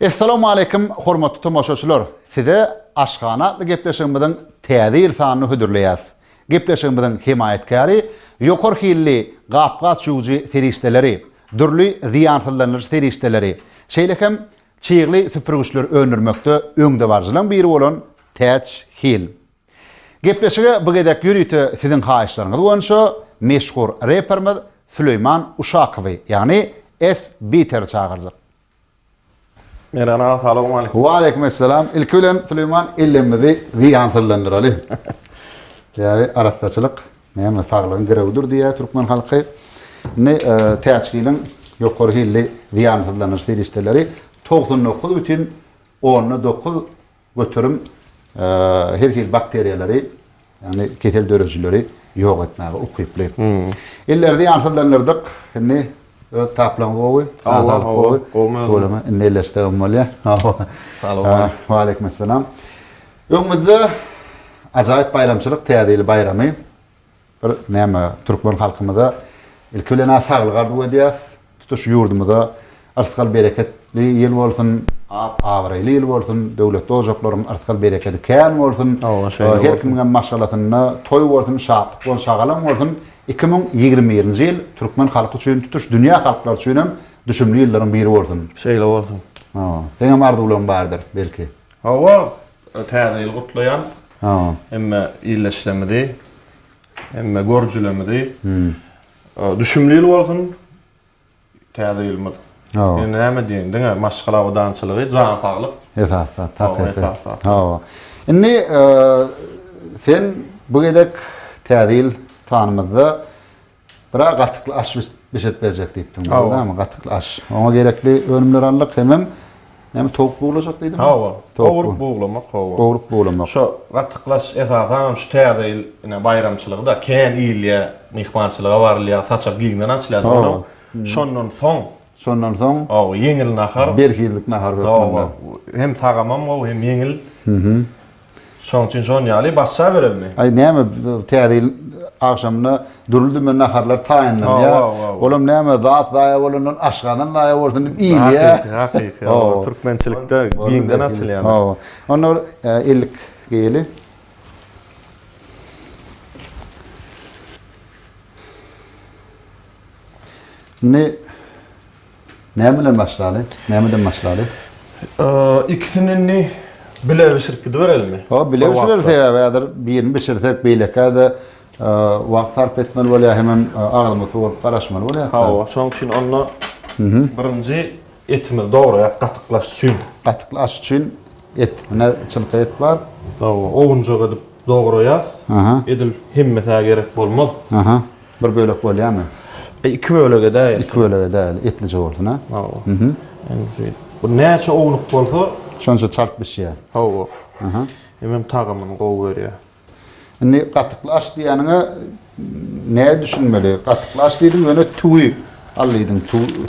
Essalamu aleýkum, hormatly tomaşaçylar. Size Aşgana atly gepleşigimiziň täze ýyl sanyny hödürleýäs. Gepleşigimiziň hemaýatkäri ýokary hilli gap-gaç ýuwujy serişdeleri, dürli zyýansyzlandyryş serişdeleri, şeýle hem çygly süpürgiçleri öndürmekde öňdebaryjylaryň biri bolan Täç Hill. Gepleşige bu gezek ýörite siziň haýyşlaryňyz boýunça meşhur reperimiz Süleýman Uşakowy, ýagny S-Beater-i çagyrjak. Meran aga salowmaleýkim. Waleýkim essalam. Ilki bilen Süleýman elimizi zyýansyzlandyraly. Sebäbi arassaçylyk näme saglygyň girewidir diýýär türkmen halky. Indi Täçgiliň ýokary hilli zyýansyzlandyryş serişdeleri togsan dokuz bütin onda dokuz Göterim her hili bakteriýalary, ýagny kesel döredijileri ýok etmäge ukyply. Elleri zyýansyzlandyrdyk. Indi öz taplaň gowy, azalyk gowy. Tüweleme indi elleşsegem bolýar. Salowmaleýkim. Waleýkimessalam. Öňümizde ajaýyp baýramçylyk, Täze ýyl baýramy. Bir näme türkmen halkymyza ilki bilen-ä saglyk arzuw edýäs. Tutuş ýurdumyza yrsgal-bereketli ýyl bolsun, ap-abraýly ýyl bolsun, döwletli ojaklaryň yrsgal-berekedi kän bolsun, her kimiňem maşgalasynda toý bolsun, şatlyk bolsun, şagalaň bolsun. Iki müň ýigrimi birinji ýyl türkmen halky üçin, tutuş dünýä halklary üçin hem düşümli ýyllaryň biri bolsun. Şeýle bolsun. Seňem arzuwlaryň bardyr, belki? Hawa, Täze ýyly gutlaýan. Sagbol. Hemme illeşlemizi, hemme görjülemizi. Düşümli ýyl bolsun Täze ýylymyz. Sagbol. Näme diýeýin, diňe maşgala abadançylygy, jan saglyk. Esas zat, hakyky. Hawa, esas zat. Hawa. Indi sen bu gezek Täze ýyl tanymyzda Bira gatykly aş bişirip berjek diýipdiň, dogrymy? Gatykly aş. Oňa gerekli önümleri aldyk, hemem näme towuk buglajak diýdiňmi? Hawa, gowrup buglamak, hawa. Gowrup buglamak. Şo gatykly aş esasan hem şu täze ýyl ine baýramçylygy-da kän iýilýär, myhmançylyga barylýar, saçak giňden açylýar soň. Şondan soň. Şondan soň. Hawa, ýeňil nahar. Berhizlik nahar hökmünde. Hawa, hem tagamam gowy, hem ýeňil. Şoň üçin şon ýaly başa berelmi? Aý näme Täze ýyl agşamyna dürli dümen naharlar taýynlanýar. Olam näme zat zaýa bolandan aşgazan zaýa bolsun diýip iýilýär. Hakyky, hakyky. Hawa, türkmençilikde giňden açylýan. Hawa. Onda bir ellik geýeli. Indi Näme bilen başlaly? Nämeden başlaly? Ikisini indi bile bişirip gidiberelimi? Ho, bile bişireris sebäbi häzir birini bişirsek beýlekä-de wagt sarp etmeli bolýar, hemem agzymy sorup garaşmaly bolýar. Hawa, şonuň üçin onda birinji etimizi dograýas gatyklaş üçin. Gatyklaş üçin et, ine çylka et bar. Hawa, owunjak edip dograýas. Edil hemmesi-ä gerek bolmaz. Bir bölek bolýamy? E, iki bölek edäýeli. Iki bölek edäýeli, etlije bolsun, ha? Hawa. Mhm. Indi şu bu näçe ownuk bolsa, şonça çalt bişýär. Hawa. Aha. Hemem tagamyny gowy berýär. Indi gatykly aş diýýäniňe näe düşünmeli? Gatykly aş diýdiň, ýöne tüwi al diýdiň,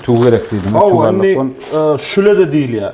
tüwi gerek diýdiň. Hawa, indi e, şüle-de diýilýär.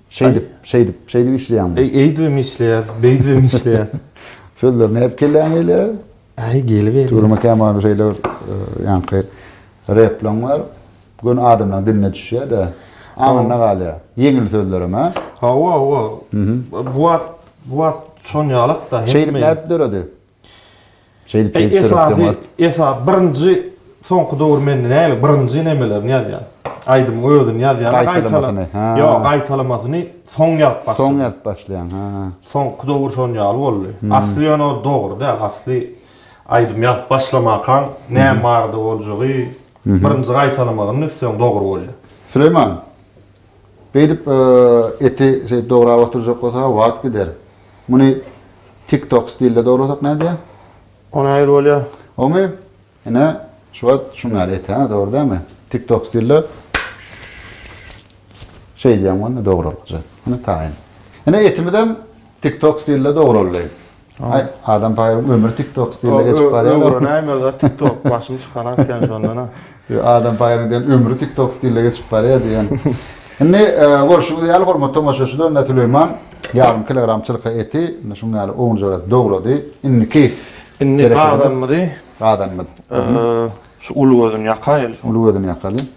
Şeýdip, şeýdip, şeýdip işleýäňmi? Eý, eýdibem işleýäs, beýdibem işleýäs. Sözler nädip kelläňe ile? Äý, geliberýär. Tugruma Kämalow şeýle bir ýaňky replaň bar. Göni adamlaryň diline düşýär-de, aňynda galýar. Ýeňil sözlerem, hä? Hawa, hawa. Bu wagt, bu wagt şonýalak-da. Şeýdip nädip döredi? Şeýdip şeýdip Esasy esas birinji soňky döwür mende nägile birinji nemelerini ýazýan. Aýdymyň özüni ýazýan gaýtalamasyny. Ýok, gaýtalamasyny soň ýazyp başlaýan. Soň ýazyp başlaýan, ha. Soňky döwür şon ýaly boldy. Asly ýöne ol dogry däl. Asly aýdym ýazyp başlamakaň näme barada boljagy birinji gaýtalamagyny üstseň dogry bolýar. Süleýman. Beýdip eti şeýdip dograp oturjak bolsa wagt gider. Muny tik tok stilde dograsak nädýä? O nähili bolýa? Omy ine şu wagt şuň ýaly et hä dogry dämi? Tik tok stilde şeýdýäň bolny dogralykja. Ine taýyn. Ine etimizem tik tok stilde dograldy. Aý, Adam Paýaryň ömri TikTok stilinde geçip barýar. Öwrenäýmeli zat TikTok, başymy çykaran sen şondan-a. Ýok, Adam Paýaryň diýen ömri TikTok stilinde geçip barýar diýen. Indi, görşüňiz ýaly, hormatly tomaşaçylar, ine, Süleýman ýarym kilogram çylka eti ine şunuň ýaly ownujak edip dogrady. Indiki Indi gazanymyzy, gazanymyz, şu uly gözüni ýakaýaly. Uly gözüni ýakaly.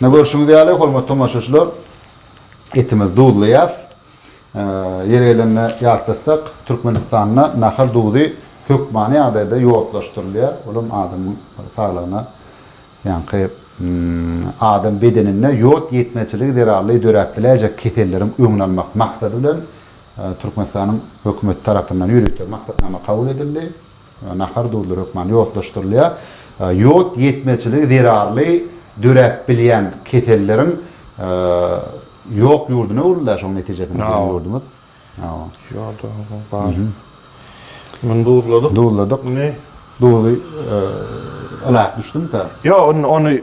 Ne görşüňiz ýaly, hormatly tomaşaçylar, etimiz duzlaýas. Ýeri gelende ýatlatsak, Türkmenistanda nahar duzy hökmany ýagdaýda ýodlaşdyrylýar. Ol hem adamyň saglygyna, ýaňky adam bedeninde ýod ýetmezçiligi zerarly döräp biläýjek keselleriň öňüni almak maksady bilen Türkmenistanyň hökümeti tarapyndan ýörite maksatnama kabul edildi. Nahar duzly hökmany ýodlaşdyrylýar. Ýod ýetmezçiligi zerarly döräp bilýän keselleriň ýok ýurduna öwrüldi-ä şoň netijesinde biziň ýurdumyz. Ýoda bar. Muny duzladyk. Duzladyk. Duzy ylap düşdümikä? Ýok, indi ony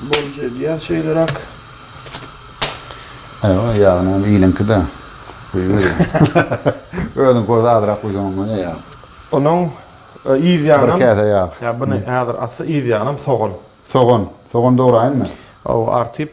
Bolja edýär şeýleräk. Aýwa, ýagyny hem iliňki-de guýuber. Özüň kors azrak guýsaň onda ne ýag. Onuň yz ýagynam. Bir käse ýag. Ýa buny häzir atsa yz ýagynam sogan. Sogan. Sogan dograýynmy? Hawa, artyp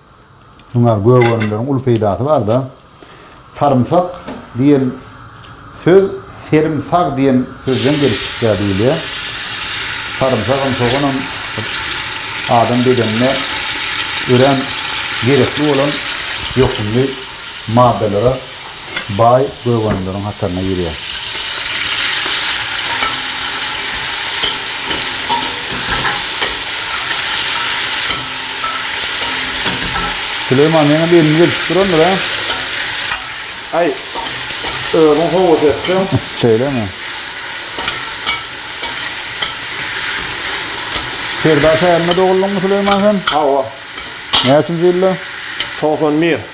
Muňa gök önümleriň uly peýdasy barda, sarymsak diýen söz serim sag diýen sözden gelip çykýar diýilýär. Sarymsagam, soganam adam bedenine örän gerekli bolan ýokumly maddalara baý gögänleriň hataryna girýär. Süleýman ýene gelin gelşip durandyr a? Aý, özüň howasy etseň. Şeýlemi? Serdarşäherinde doguldymyň Süleýman sen? Hawa. Näçinji ýylda? Togsan bir.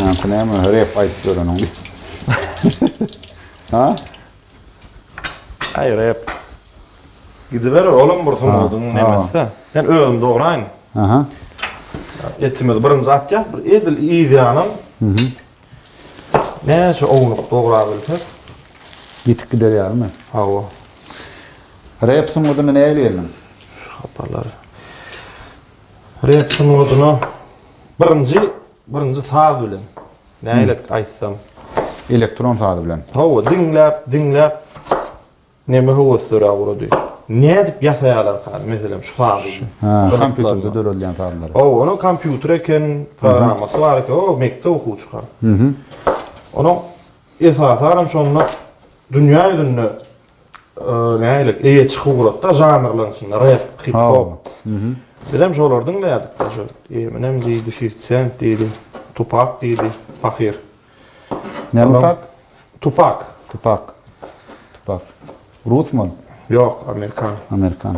Näme näme rep aýdyp ýöreniň diýip. Ha? Aý rep. Gidiber oğlum bir sungadyň nemesi. Sen özüm dograýyn. Aha. Etimiz birinji atýas bir edil yz ýanam. Mhm. Näçe ownuk dograp bilsek. Ýitip gider ýalymy? Hawa. Rep sungadyna nähili geldiň? Şu hapalar. Rep sungadyna Birinji, birinji saz bilen. Nälik aýtsam. Elektron saz bilen. Hawa, diňläp, diňläp neme höwesliräk urady. Nädip ýasaýarlarka, meselem, şu sazy? Ha, kompýuterde döredilýän sazlary. Hawa, onuň kompýuter eken, programmasy bar eken, o mekdep okuwçyka. Onuň esasan hem şonda dünýä ýüzünde nägilik eýe çykyp ugratda žanrlaryň içinde rap, hip hop. Biz hem şolary diňleýärdik da şu Eminem diýdi, 50 Cent diýdi, Tupak diýdi, Pahyr. Näme tak? Tupak. Tupak. Tupak. Rusman? Ýok, amerikan. Amerikan.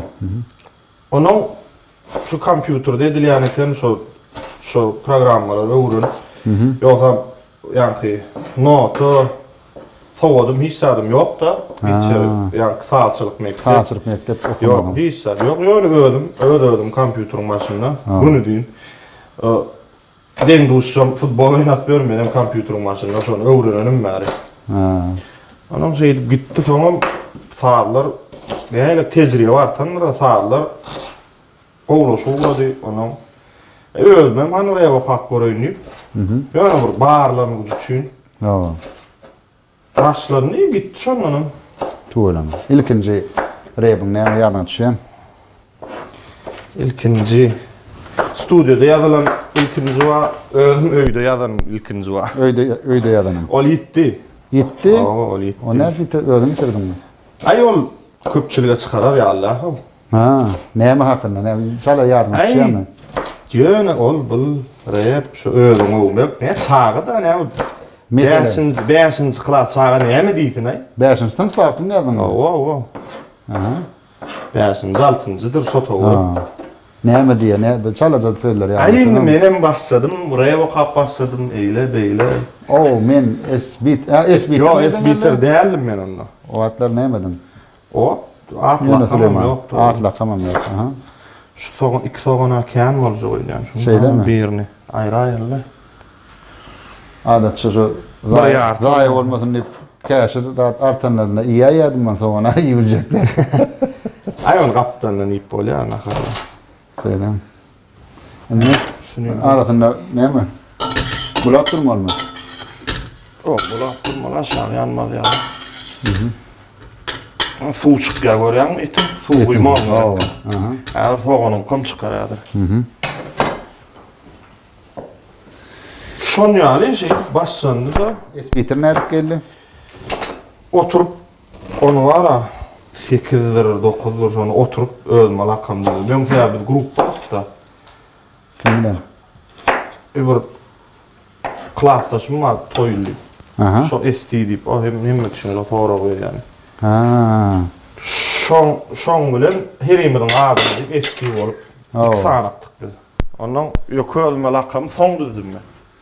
Onuň şu kompýuterde edilýän eken şu şu programmalary öwrenip. Ýogsa ýaňky nota sowadym hiç zadym ýokda. Hiç ýaňky sazçylyk mekdep. Sazçylyk mekdep okamadyň. Ýok, hiç zat ýok. Ýöne özüm öz özüm kompýuteriň başynda günüdiýin Deň duşjam futbol oýnap ýör menem kompýuteriň başynda şony öwrenenim bäri. Onam şeýdip gitdi soňam sazlar näle tejribe artandyr sazlar gowlaşyp ugrady onam özümem hany rep okap göreýin diýip ýöne bir barlanygyç üçin. Saçlar niye gitdi şondanam? Tüweleme. Ilkinji rebiň näme ýadyňa düşýän? Ilkinji studiýada ýazylan ilkinji wa özüm öýde ýazanym ilkinji wa. Öýde öýde ýazanyň. Ol ýitdi. Ýitdi? Hawa, ol ýitdi. Ol nädip ýiter? Özüň ýitirdiňmi? Aý ol köpçülige çykarar ýaly däl-haw. Ha, näme hakynda, näme şala ýadyňa düşýärmi? Ýöne ol bul rep şu özüň öwmek, ne çaga da näme ol. Bäşinji, bäşinji klas çaga näme diýsin aý? Bäşinji synp wagtynda ýazyň. Owa, owa. Aha. Bäşinji, altynjydyr şo towa. Näme diýýär, ne bir çalaja sözler ýazyň. Aý indi menem başladym, rep okap başladym, eýle beýle. O, men esbit, a esbit. Ýok, esbiter däldim men onda. O wagtlar näme ediň? Ot, at lakamam ýokdy. At lakamam ýok, aha. Şu sogan, iki sogana kän boljak öýdýän. Şundan birini aýraýyl-da. Adatça şu zaýa bolmasyn diýip, käşir zat artanlarynda iýäýýärdim men sogany, iýibiljek däl. Aý, ony gapdandan iýip bolýar, nahar. Şeýdem. Indi şuny arasynda näme? Bulap durmalymy? Ýok, bulap durmaly, aşagy ýanmaz ýa. Mhm. Suw çykýar görýäňmi eti? Suw guýmalyň gerek. Aha. Häzir soganyň kom çykar häzir. Mhm. Şon ýaly şeýdip başlandy-da. Esbitir nädip geldi? Oturyp Ony bar-a, sekizdir, dokuzdyr, şony oturyp özüme lakam döwdüm. Öň sebäbi biz grupdakda. Kim bilen? E, bir klasdaşym bar, Toýly. Aha. Şo Esti diýip, o hem hemme kişilere sorag berýän. Ha. Şoň, şoň bilen herimiziň adyny diýip Esti bolup, iki sanakdyk biz. Ondan ýöke özüme lakamy soň düzdüm men.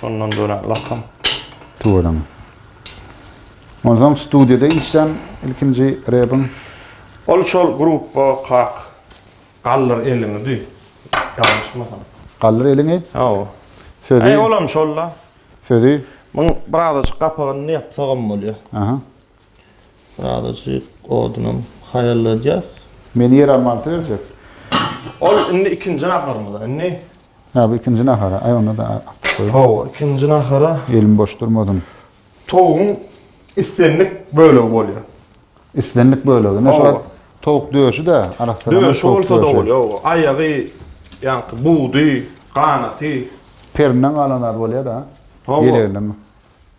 Şondan dörän lakam. Tüweleme. Onsoň studiýada işlän ilkinji rebiň? Ol şol gruppa kak Galdyr eliňi di. Ýalňyşmasam. Galdyr eliňi? Hawa. Sözi? Olam şol-la. Sözi? Muň birazajyk gapagyny ýapsagam bolýar. Aha. Birazajyk odunam haýalladýas. Meni ýer almanysy berjek. Ol indi ikinji naharymyza. Indi. Hä, bu ikinji nahara. Aý, onda-da artyk goý. Hawa, ikinji nahara. Elim boş durmasyn. Towugyň islendik bölegi bolýar. Islendik bölegi. Ine şu wagt towuk döşi-de, arassadan towuk döşi. Döşi bolsa-da bolýar, hawa. Aýagy, ýaňky budy, ganaty. Perinden galan zady bolýar-da. Hawa. Ýeleginden.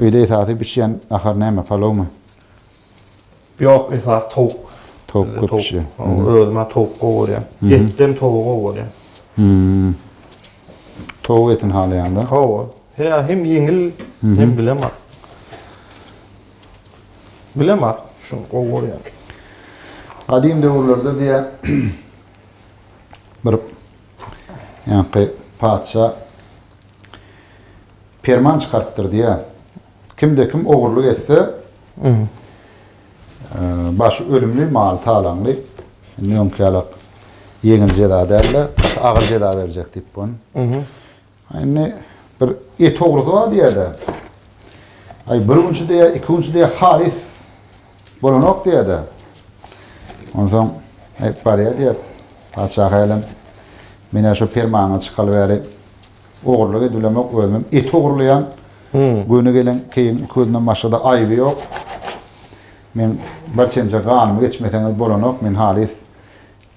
Öýde esasy bişýän nahar näme palowmy? Ýok esasy towuk. Towuk köp bişýär. Özüm hem towuk gowy görýän. Etden towugy gowy görýän. Towuk etini halaýaňda. Hawa. Heý hem ýeňil hem bilemak. Bilemak şuny gowy görýän. Gadym döwürlerde diýä bir ýaňky patyşa perman çykarypdyr diýýär. Kimde kim ogurlyk etse, başy ölümli, maly talaňly, indi öňki ýala ýeňil jeza däl-de, agyr jeza berjek diýip bun. Indi bir et ogrusy bar diýýär-de. Aý bir günçi diýýär, iki günçi diýýär, halys bolanok diýýär-de. Onsoň barýar diýýär, patyşa hälem, men şu permanyňy çykalyp bäri, Ogurlyk edilemok özümem et ogurlaýan. Göni gelen keýigiň iki gözünden başgada aýby ýok. Men bir çemçe ganymy geçmeseňiz bolanok, men halys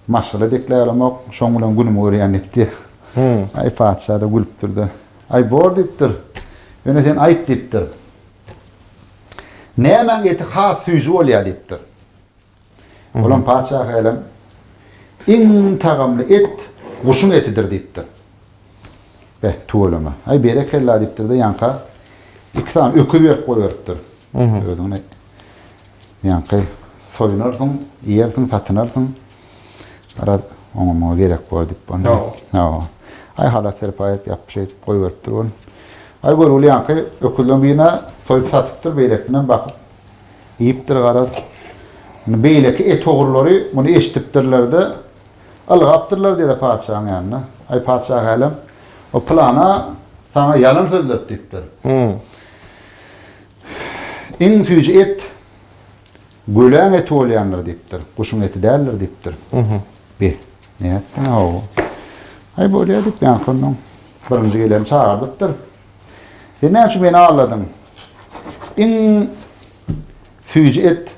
maşgala dekläýolamok, şoň bilen günümi görýän diýipdi. Aý patyşa-da gülüpdir-de, Aý bor diýipdir. Ýöne sen aýt diýipdir. Nämäň eti has süýji bolýar diýipdir. Olam patyşa hälem, Iň tagamly et guşuň etidir diýipdir. Be, tüweleme. Aý, berekella diýipdir-de, ýaňka iki sany öküz berip goýberipdir. Özüňe ýaňky soýunarsyň, iýersiň, satynarsyň. Garaz, oňa-muňa gerek bor diýip. Hawa. Aý, halas serpaý edip, ýapyp, şeýdip goýberipdir ol. Aý, görgüli ýaňky öküzleriň birini soýup satypdyr, beýlekisinem bakyp, Diýipdir garaz. Indi beýleki et ogrulary muny eşidipdirler-de, ylgapdyrlar diýe-de patyşaň ýanyna. Aý, patyşahälem, o pylana saňa ýalan sözledi diýipdir. Iň süýji et göläň eti bolýandyr diýipdir, guşuň eti däldir diýipdir. Bi, nätdiň-a, hawa. Aý, bolýa diýip, ýaňky onnoň birinji geleni çagyrdypdyr. Sen näme üçin meni aldadyň? Iň süýji et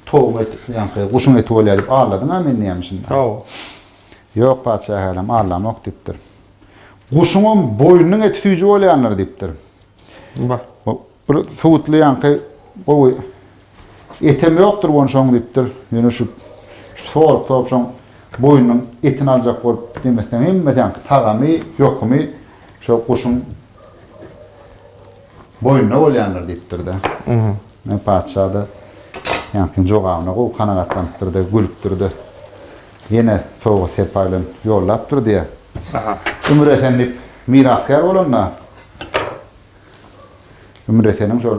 towuň eti, ýaňky guşuň eti bolýar diýip aldadyň-a meni näme üçin? Hawa. Ýok, patyşa hälem aldamok diýipdir. Guşuňam boýnunyň eti süýji bolýandyr diýipdir. Bar. Bir suwutly ýaňky gowy Etem ýokdur gonşaň diýipdir. Ýöne şu sorup-sorup şoň boýnunyň etini aljak bolup demesine hemmedeňki tagamy, ýokumy şo guşuň boýnuna bolýandyr diýipdir-de. Ýa patyşa-da ýaňky jogabyna gowy kanagatlanypdyr-da, gülüpdir-de. Ýene sowga-serpaý bilen ýollapdyr diýýä. Ümür esen diýip mirasgär bolanda Ümür eseniň şol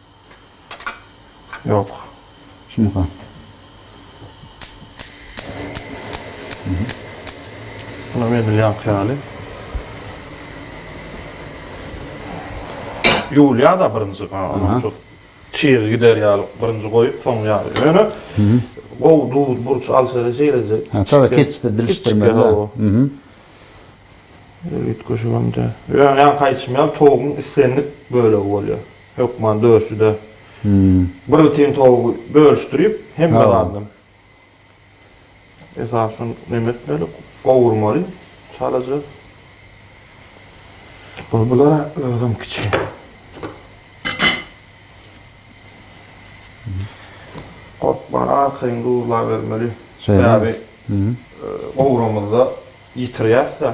Ýok. Şunyka. Munam edil ýaňky ýaly. Ýuwulýar-da birinji, ha, onam şol çygy gider ýaly birinji goýup, soň ýaly. Ýöne gowy duz, burç alşaly şeýleje. Ha, çaga keçişdir, bilişdirmeli-dä. Üýtgeşigem däl. Ýöne ýaňky aýdyşym ýaly, towugyň islendik bölegi bolýar. Hökman döşüde bir tiýin towugy bölüşdirip hemme zadyndan esasy şony neme etmeli gowurmaly çalaja bu bulara özem kiçi gorkman arkaýyn duzlabermeli sebäbi gowramyzda ýitirýäsda.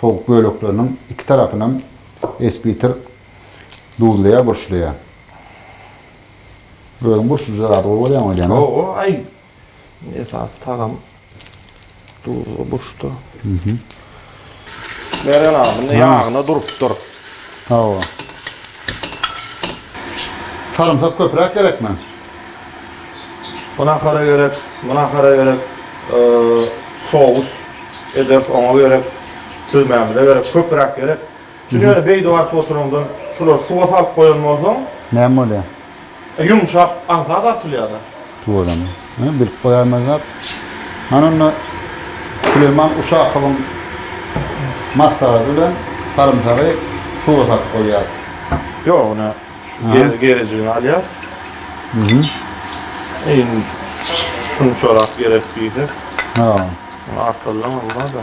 Towuk bölekleriniň iki tarapynam esbitir duzlaýar, burçlaýar. Özüň burçlujy zady gowy görýäň welin. Gowy, aý. Esasy tagam duzly burçda. Meren aga, munda ýagyna durupdyr. Hawa. Sarymsak köpräk gerekmi? Bu nahara gerek, bu nahara gerek, sous ederis oňa gerek, süzmämize gerek, köpräk gerek. Çünki ýöne beýdip aryp oturaňdan şulary suwa salyp goýan bolsaň. Näme bolýar? E ýumşak aňsa dartylýada. Tuwazam. Hä, bilip goýaýmaz zat. Hany onda Süleýman Uşakowyň maslahaty bilen sarymsagy suwa salyp goýýas. Ýok, ine şu gerejigini alýas. Iň şunçarak gerek diýsek. Hä. Artallam bolmaz-da.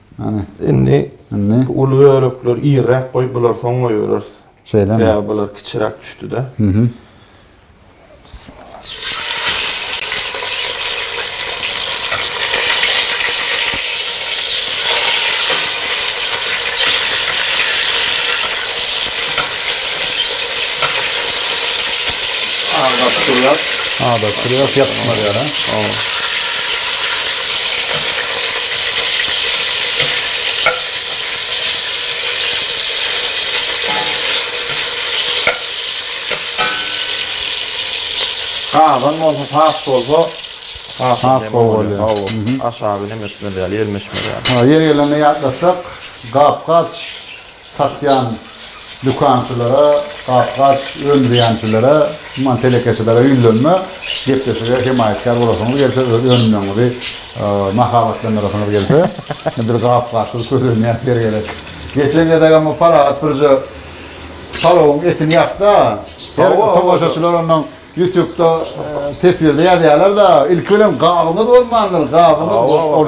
Hany. Indi Indi. Uly bölekleri irräk goý, bulary soň goýbereris. Şeýlemi? Sebäbi bular kiçiräk düşdi-de. Mhm. Agdaryp durýas. Agdaryp durýas, ýapyşmaz ýaly, ha? Hawa. Gazan bolsa sas bolsa has hem gowy bolýar. Hawa, aşagy nemetmeli ýaly, ýelmeşmeli ýaly. Ýeri gelende ýatlatsak, gap-gaç satýan dükançylara, gap-gaç öndüýänçilere, man telekeçilere ýüzlenme, gepleşige hemaýatkär bolasyňyz gelse, öz önümleriňizi mahabatlandyrasyňyz gelse, bir gap-gaçsyz köz öndýän ýer gerek. Geçen gezegem bu Parahat birje palawyň etini ýapdy-a, her tomaşaçylar ondan Ýutubda teswirde ýazýarlar da ilki bilen gabyňyz bolmandyr gabyňyz ol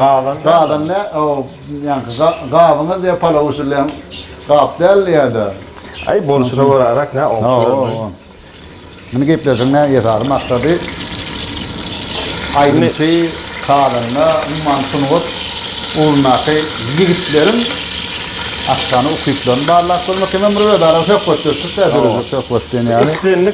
gadan dä ol ýaňky gabyňyz diýe palaw bişirilen gap däl diýýärda. Aý bolşuna göräräk nä oňşuberme. Muny gepleşigiň näme esasy maksady aýdymçy kazanda umuman sungat ugrundaky ýigitleriň açýan ukyplaryny barlap görmek hemem bir özara söhbetdeşlik dä dörejek söhbet diýen ýaly.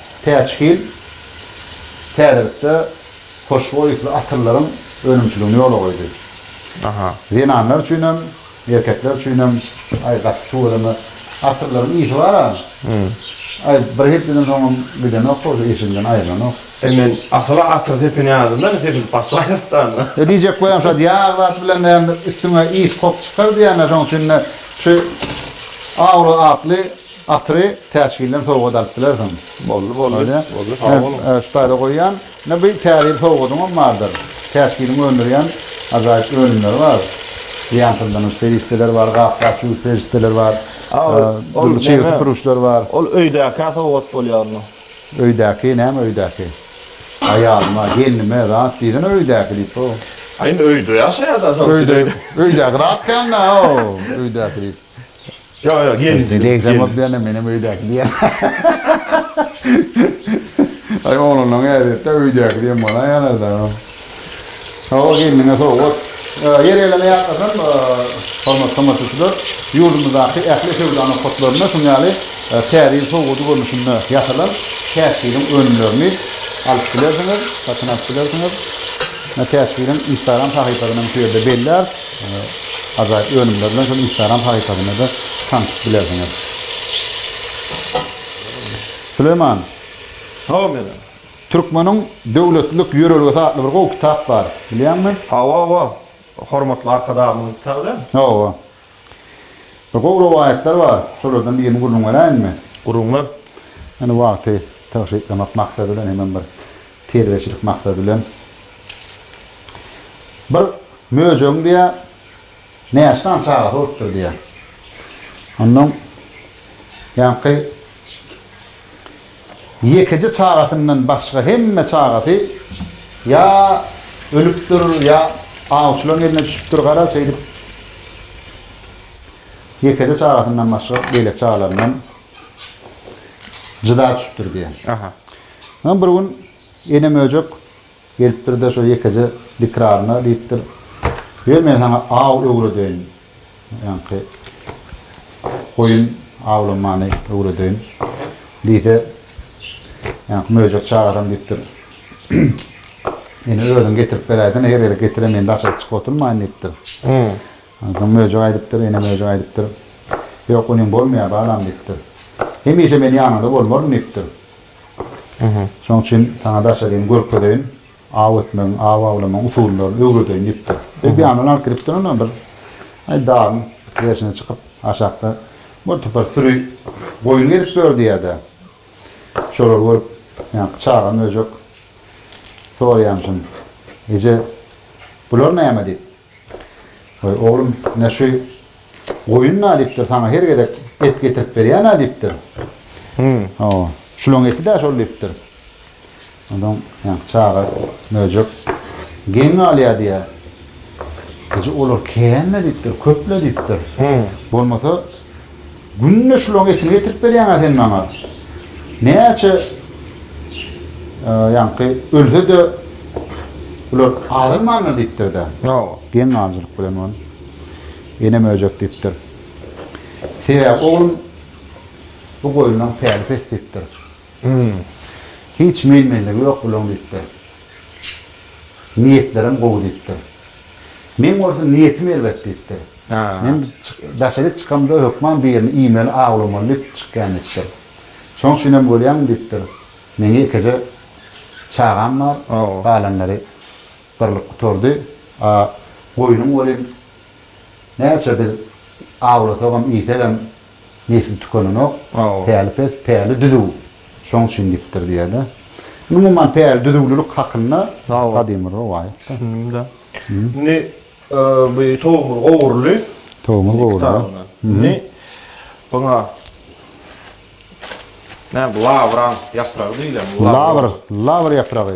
Täç hil täzelikde hoşboý ysly atyllaryň önümçiligini ýola goýdy. Zenanlar üçin hem, erkekler üçin hem aý gaty tüweleme. Atyllaryň ysy bar-a. Aý bir hepdeden soňam gidenok bolsa eşigimden aýrylanok. E men asyl atyr sepini ýazdym-da indi sepilip başlaýar danda. E diýjek bolýam şa ýag zat bilen näme üstüňe ys kok çykar diýýän-ä şoň üçin-de şu Aura atly Atyry Täçgilden sowgat alyp bilersiň. Boldy, boldy. Boldy, sag boluň. Şu taýda goýýan. Ine bu Täze ýyl sowgadyňam bardyr. Täçgiliň öndürýän ajaýyp önümleri bar. Zyýansyzlanyjy serişdeler bar, gap-gap ýuwuş serişdeleri bar. Dürli çig süpürgiçler bar. Ol öýdäkä sowgat bolýar onda. Öýdäki, näme öýdäki? Aýalyma, gelnime zat diýsene öýdäki diýip-ow. Indi öýde ýaşaýar-da, şonuň üçin öýdäki. Öýdäki zat däl-nä-ow, öýdäki diýip. Ýok, ýok, gelin. Degsen bolup diýende menem öýdäki diýen. Aý oglanlaryň ädetde öýdäki diýen bolaýýarlar-da. Hawa, gelniňe sowgat. Ýeri gelende ýatlasam, hormatly tomaşaçylar, ýurdumyzdaky ähli söwda nokatlarynda şunuň ýaly Täze ýyl sowgady görnüşinde ýasalan Täç Hiliň önümlerini alyp bilersiňiz, satyn alyp bilersiňiz. Täç Hiliň Instagram sahypasyny hem şu ýerde bellär. Ýöne ajaýyp önümler bilen şol instagram sahypasynda-da tanşyp bilersiňiz. Süleýman. Salam Eren. Türkmeniň döwletlilik ýörelgesi atly bir gowy kitap bar. Bilýäňmi? Hawa, hawa. Hormatly Arkadagymyzyň kitaby dälmi? Hawa. Bir gowy rowaýatlar bar. Şolardan birini gürrüň beräýinmi? Gürrüň ber. Ýöne wagty tygşytlamak maksady bilen hemem bir Terbiýeçilik maksady bilen bir möjegiň diýýär, näçe sany çagasy bolupdyr diýýär. Onnoň ýaňky ýekeje çagasyndan başga hemme çagasy ýa ölüpdir, ýa awçylaryň eline düşüpdir, gara şeýdip ýekeje çagasyndan başga beýleki çagalaryndan jyda düşüpdir diýýär. Aha. Soň bir gün ene möjek gelipdir-de şo ýekeje dikraryna diýipdir, Ýör men saňa aw öwredeýin, ýaňky goýun awlamany öwredeýin diýse, ýaňky möjek çagasam diýipdir, Ene özüň getirip beräýsene, her gezek getirem men daşaryk çykyp oturmaýyn diýipdir. Onsoň möjek aýdypdyr, ene möjek aýdypdyr, Ýok, onyň bolmaýar, balam diýipdir. Hemişe men ýanyňda bolmaryn diýipdir. Şonuň üçin saňa daşaryny görkezeýin, aw etmegiň, aw awlamagyň usullaryny öwredeýin diýipdir. Ebýandan alyp gidipdir onam bir dagyň gerşine çykyp, aşakda birtopar süri goýun gezip ýördi ýa-da. Şolary görüp, ýaňky çaga möjek soraýamyşyn, Eje, bular näme diýip. Goý, oglum, ine şu goýun nadipdir, saňa her gezek et getirip berýär nadipdir. Hmm. Hawa, şulaň eti-dä şol diýipdir. Ondan ýa çaga möjek geň galýar diýýär. Eje, olar känme diýipdir, köple diýipdir. Hmm. Bolmasa Günde şulaň etini getirip berýäňä sen maňa. Näçe ýaňky ölse-de bular azalmandyr diýipdir-de. Hawa. Geň galyjylyk bilen ol. Enem öýjek diýipdir. Sebäbi oglum bu goýunlaň päli pes diýipdir. Hum. Hiç men-menligi ýok bulaň diýipdir. Niýetlerem gowy diýipdir. Men bolsa niýetim erbet diýipdir. Men daşaryk çykamda hökman bir ýerini iýmeli, awlamaly diýip çykýan diýipdir. Şoň üçin hem görýäňmi diýipdir, meň ýekeje çagam bar, galanlary birlik gutardy. A goýnuň welin näçe biz awlasagam, iýsegem, Nesli tükenenok. Päli pes, päli düzüw. Şoň üçin gitdir diýýär-de. Umuman, päli düzüwlilik hakynda gadymy rowaýat. Düşündim-de. Indi bu towugymyz gowurly. Towugymyz gowurly. Indi buňa näme, lawraň ýapragy diýilenmi? Lawr, lawr ýapragy.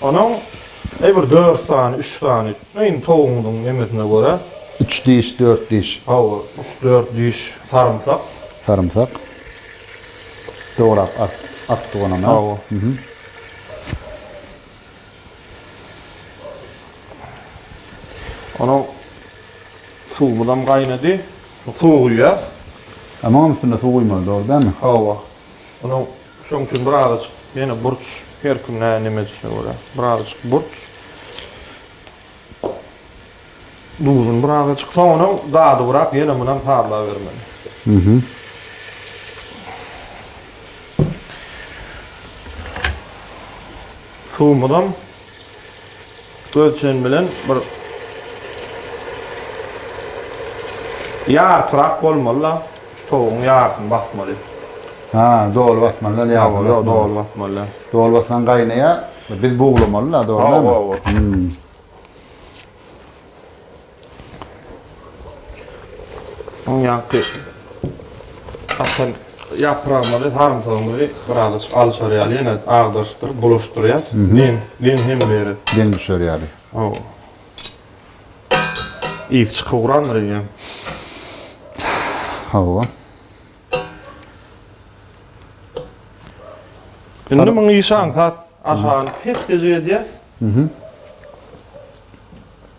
Onuň äý bir dört sany, üç sany, iň towugyňyzyň nemesine görä. Üç diş, dört diş. Hawa, üç-dört diş sarymsak. Sarymsak. Dograp at, atdyk onam, hä? Hawa. Onuň suwumyzam gaýnady. Suw guýýas. Munuň üstüne suw guýmaly, dogry dälmi? Hawa. Onuň. Şoň üçin birazajyk ýene burç, her kim näme näme edişine görä, birazajyk burç. Duzuny birazajyk, soňunam dadybyrak ýene munam sazlabermeli. Mhm. Suwumyzam Ölçen bilen bir ýartyrak bolmaly-da, şu towugyň ýarysyny basmaly. Ha, doly basmaly däl, ýarysyny basmaly. Ýok, doly basmaly däl. Doly bassaň gaýnaýar, biz buglamaly-da, dogrudanmy? Hawa, hawa. Onýanky atan ýapragymyzy, sarymsagymyzy biraz alyşar ýaly ýene agdaryşdyryp bulaşdyrýas. Deň, deň hem beri. Deň düşer ýaly. Hawa. Ýiti çykyp ugrandyr eýýäm. Hawa. Indi muny işe aňsat aşagyny pes-peje edýäs.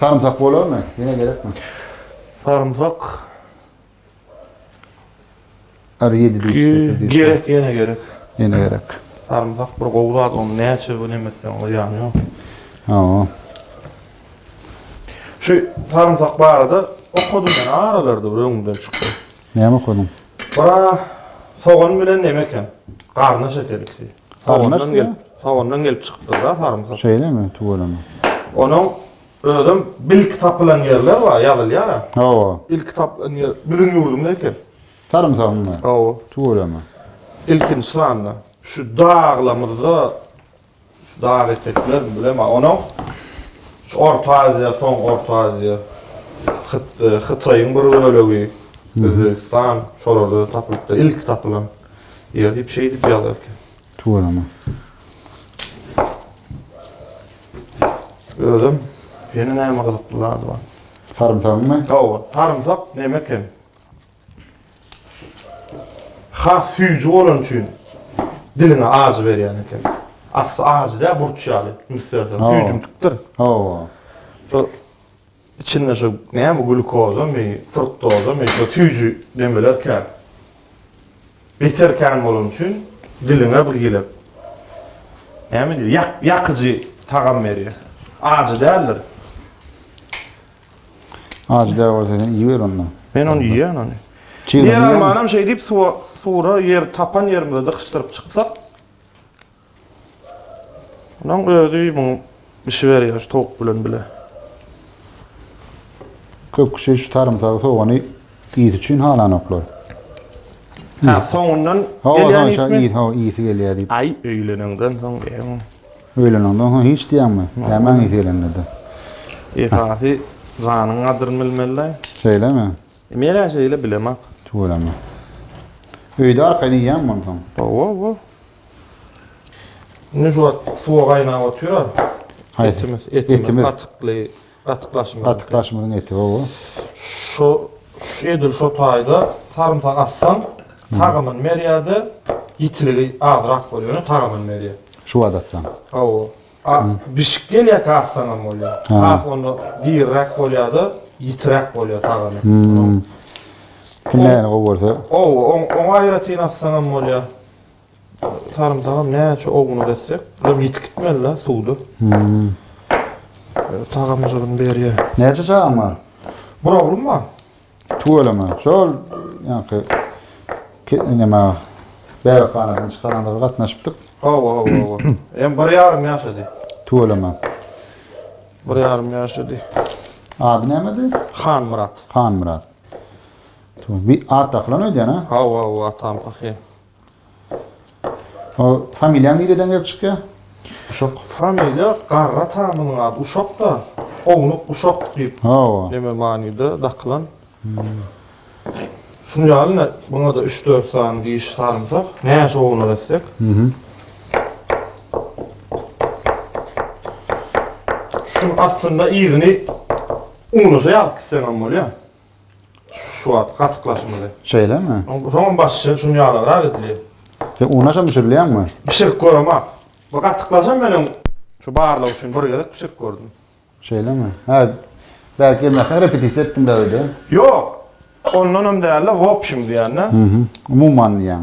Sarymsak bolarmy? Ýene gerekmi? Sarymsak. Ar ýedi diýip. Gerek ýene gerek. Ýene gerek. Sarymsak bir gowy zat, onu näçe gün emesden o ýany ýok. Ha. Şu sarymsak barada okadym men aralarda bir öňümden çykdy. Näme okadyň? Bura sogan bilen näme eken? Garna şekerlisi. Hawandan gelip, hawandan gelip çykypdyr da sarymsak. Şeýlemi, tüweleme. Onuň özüm bilki tapylan ýerler bar, ýazylýar. Hawa. Ilki tapylan ýer biziň ýurdumyz eken. Sarymsagymyz. Hawa. Tüweleme. Ilkinji sanda şu daglamyzda şu dag etekler bilen onuň şu Orta Aziýa, soň Orta Aziýa, Hyt, Hytaýyň bir bölegi, Özbegistan şolarda tapylypdyr. Ilki tapylan. Ýer diýip şeýdip ýazarka. Tuweleme. Özüm ýene näme gyzykly zady bar. Sarymsakmy? Hawa, sarymsak näme eken? Has süýji bolany üçin diliňe ajy berýän eken. Asly ajy däl, burç ýaly, üns berseň, süýjümtikdir. Hawa. Şo Içinde şu näme glukozamy, fruktozamy, şo süýji demeler kän. Beter kän bolany üçin diliňe bir hile näme diýdi? Ýak, ýakyjy tagam berýär. Ajy däldir. Ajy däl bolsa sen iýiber onda. Men ony iýýän ony. Diýer almanam şeýdip suwa sura ýer tapan ýerimize dykyşdyryp çyksak Onuň özi muň bişi berýär şu towuk bilen bile. Köp kişi şu sarymsagy, sogany ýiti üçin halanoklar. Ha, soňundan gelýän ýiti. Ha, ýiti gelýär diýip. Aý, öýlenenden soň diýýän. Öýlenenden soň hiç diýýäňmi? Nämäň ýiti gelende-de? Esasy janyň gadryny bilmeli-dä. Şeýlemi? Men-ä şeýle bilemok. Tüweleme. Öýde arkaýyn iýýäňmi onsoň? Hawa, hawa. Indi şu wagt suwa gaýnap otyr-a. Etimiz, etimiz gatykly, gatyklaşmaz. Gatyklaşmaz eti hawa. Şu edil şu taýda sarymsak atsaň, tagamy berýär-de, ýitiligi azrak bolýar, ýöne tagamy berýär. Şu wagt atsaň. Hawa. A, bişik gelýärkä atsaň hem bolýar. Has onda diriräk bolýar-da, ýitiräk bolýar tagamy. Kimläni gowy görse. Hawa, oňa aýratyn atsaň hem bolýar. sarymsagam näçe owunyp etsek, bulam ýitip gitmeli-de suwda. Hmm. Tagamjygyny berýär. Näçe çagaň bar? Bir oglum bar. Tüweleme. Şol ýaňky näme bäbekhanadan çykaranda bir gatnaşypdyk. Hawa, hawa, hawa. Hem bir ýarym ýaşady. Tüweleme. Bir ýarym ýaşady. Ady nämedi? Hanmyrat. Hanmyrat. Bi at dakylan öýdýän a? Hawa bu atam pahyr. O familiýaň nireden gelip çykýa? Uşak. Familiýa garra tamynyň ady Uşak da, ownuk Uşak diýip Hawa. neme manyda dakylan. Şuny ýaly ne buňada üç dört sany diş salynsak näçe ownuk etsek. Şuny aslynda yzyny uňlaşa ýalyp gitseňem bolýa. Şu wagt gatyklaşmaly. Şeýlemi? Soňam başy şuny ýalygrak edilýär. Sen una şa bişirilýäňmi? Bişirip göremok. Bu gatyklaşan meniň şu barlag üçin bir gezek bişirip gördüm. Şeýlemi? Hä, belki gelmäkäň repetisiýa etdiň-dä öýde? Ýok. Ondanam däl-de, wobşim diýän-dä. Umuman diýýäň.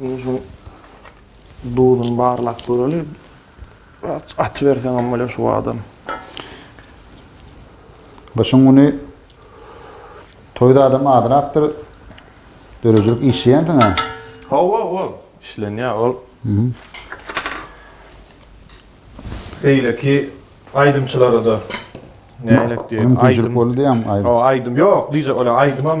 Indi şuň duzuny barlap göreli. Aty berseňem bolýar şu adam. Gyşyň güni toýda adam azrakdyr. Döredijilik işleýänsiň ha? Hawa, hawa. Işlenýär ol. Beýleki aýdymçylara-da nälektýär? Aýdym boldy ýa aýdym. Hawa, aýdym. Ýok, diýjek bolýan aýdymam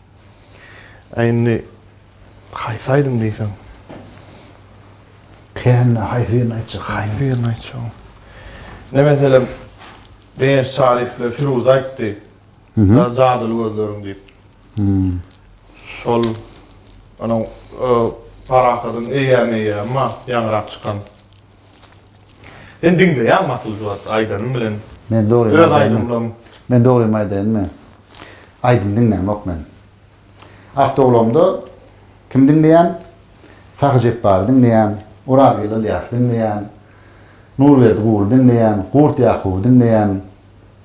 A indi haýsy aýdym diýseň? Kände haýsy birini aýtjak? Haýsy birini aýtjak? Ne meselem Begenç Çaryýewle Firuz aýtdy. Ýa Jadyly gözleriň diýip. Şol onuň Parahadyň Eýýäm eýýämi bar ýaňyrak çykan. Sen diňleýäňmi asylly zat aýdanyň bilen Men dogrymy öz aýdaýynmy? aýdymlaň. Men dogrymy aýdaýynmy? Aýdym diňläňok men. Awtoulamda kimi diňleýän? Sahy Jepbary diňleýän, Orazgel Ylýasy diňleýän, Nurberdi Guly diňleýän, Gurt Ýakuby diňleýän.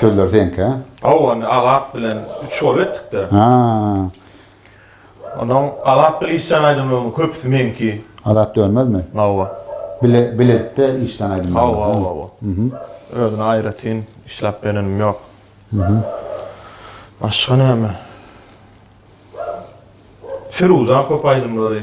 Sözler seňkä? Hawa, ony Azat bilen üç gol etdik-de. Ha. Onuň Azat bilen işlän aýdymlarynyň köpüsi meňki. Azat Dönmezmi? Hawa. Bile, biletde işlän aýdymlary. Hawa, hawa, hawa. Mhm. Özüne aýratyn işläp berenim ýok. Mhm. Başga näme? Firuzan köp aýdymlary.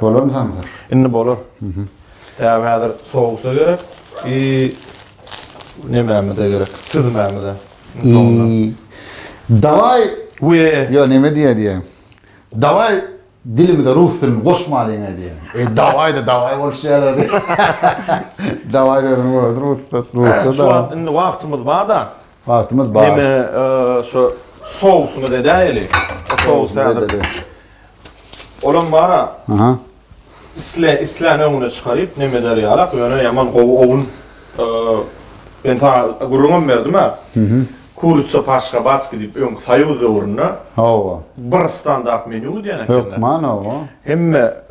Bolarmy samsyr? Indi bolar. Däbi häzir sowsa gerek i nemämize gerek, süzmämize. Dawaý, ýa näme diýýär diýýän. Dawaý dilimize rus dilini goşmalyň-a diýýän. E dawaý-da dawaý boluş ýaly. Dawaý diýeniň özi rusça-da. Şu wagt indi wagtymyz bar-da. Wagtymyz bar. Neme, şu sousumyz edäýeli. O sous häzir. Olam bar-a. Aha. Isle, islän öňüne çykaryp, neme eder ýalak, ýöne ýaman gowy owun. Men sana gürrüňem berdim-ä. Mhm. Kuritsa paşka baçki diýip öňki soýuz döwründe. Hawa. Bir standart menýu diýen ekeni. Hökman, hawa. Hemme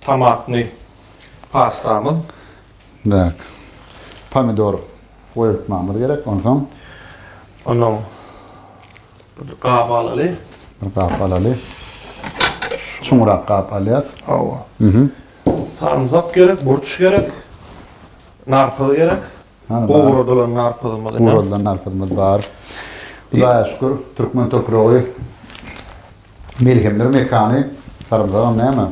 Tomatny pastamyz. Däk. Pomidor goýultmamyz gerek. Onsoň. Onuň bir gap alaly. Bir gap alaly. Çuňrak gap alýas. Hawa. Mhm. Sarymsak gerek, burç gerek. Narpyz gerek. Hany bar. Gowradylan narpyzymyz ine. Gowradylan narpyzymyz bar. Hudaýa şükür, türkmen topragy melhemler mekany. Sarymsagam näme?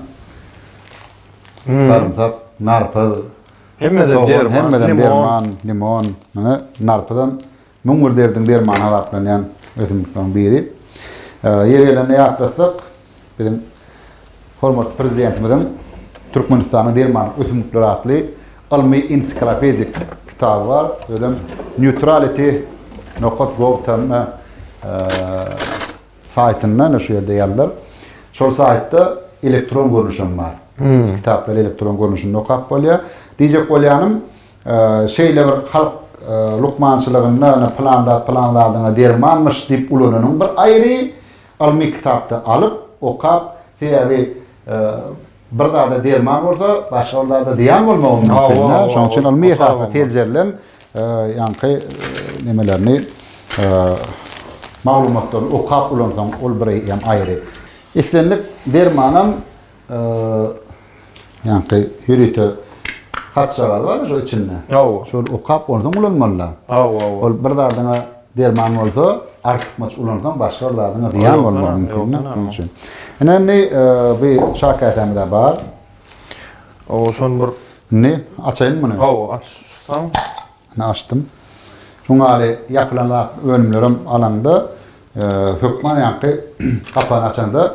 Sarymsak, narpyz. Hemmeden derman, limon. Hemmeden derman, limon. Muny narpyzam Müň bir derdiň dermany hasaplanýan ösümlikleriň biri. Ýeri gelende ýatlasak, biziň hormatly Prezidentimiziň Türkmenistanyň dermanlyk ösümlikleri atly ylmy-ensiklopedik kitaby bar. Özem Neutrality nokat gov tm saýtynda, ine şu ýerde ýazylar. Şol saýtda elektron görnüşi hem bar. Kitaplary elektron görnüşinde okap bolýar. Diýjek bolýanym, Şeýle bir halk lukmançylygynda ýa pylan zat pylan zadyňa dermanmyş diýip ulananyň bir aýry, ylmy kitapda alyp, okap, sebäbi bir zada derman bolsa, başga bir zada zyýan bolmagy mümkin-dä. Şonuň üçin ylmy esasda seljerilen ýaňky nemelerini, maglumatlaryny okap ulansaň, ol bir hem aýry. Islendik dermanam. Ýaňky ýörite hatjagaz bar şu içinde. Hawa. Şol okap ondan ulanmalylar. Hawa, hawa. Ol bir zadyňa derman bolsa, artykmaç ulansaň başga bir zadyňa zyýan bolmagy mümkin. Şonuň üçin. Ine indi e, bu çaý käsämiz bar. Hawa, şony bir Indi açaýyn muny. Hawa, açsaň. Ine açdym. Şuň ýaly ýapylan zat önümlerem alaňda, e, hökman ýaňky gapany açanda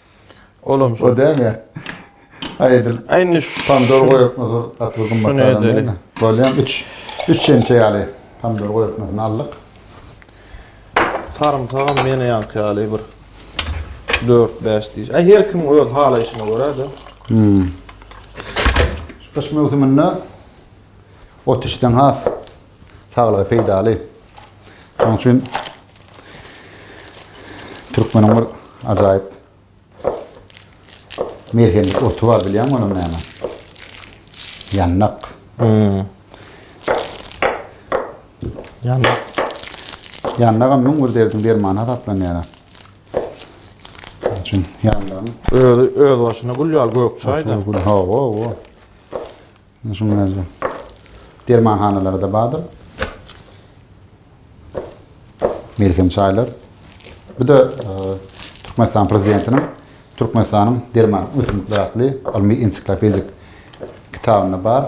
Olam şo däne. Aýdyl. Aýny pomidor goýupmy dur, gaty gymmat aýdyl. Bolýan 3 3 çemçe ýaly pomidor goýupmy aldyk. Sarymsagam meni ýanky ýaly bir 4-5 diş. Aý her kim öz halaýşyna görä-de. Hmm. Şu gyş möwsüminde ot içseň has saglyga peýdaly. Şonuň üçin Türkmeniň bir ajaýyp melhemlik oty bar bilýäňmi onuň näme? Ýannak. Hmm. Ýannak. Ýannagam müň bir derdiň dermany hasaplanýar. Üçin ýanlaryň öz öz başyna gül ýaly gök çaýda. Hawa, hawa. Şunuň özi dermanhanalarda bardyr. Melhem çaýlar. Bu da e, Türkmenistan prezidentiniň Türkmenistanyň derman ösümlikler atly ylmy ensiklopedik kitabynda bar.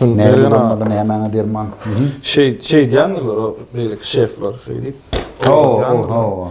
Näme bolmaly, nämäňe derman? Şey, şey diýenler, o beýleki şefler şeýdip. Oo, oo, oo.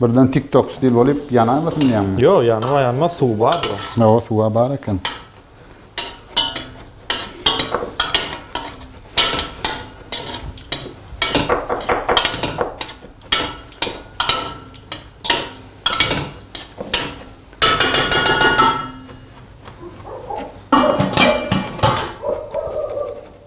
Birden tik tok stil bolup ýanaýmasyn diýýäňmi? Ýok, ýanma ýanmaz, suwy bardyr oň. Hawa, suwa bar eken.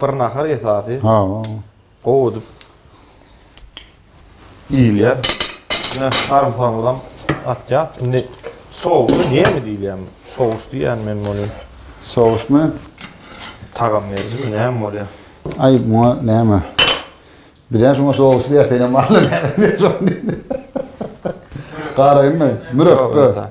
Bir nahar esasy. Ha. Gowy edip iýilýär. Ýa sarymsagymyzam atýas. Indi sous näme diýilýär? Sous diýýän men muny. Sousmy? Tagam berjimi näme bolýar? Aý, muňa näme? Bizem şuňa sous diýýäs, senem barlar näme diýýäs. Garagynmy? Mürepbe.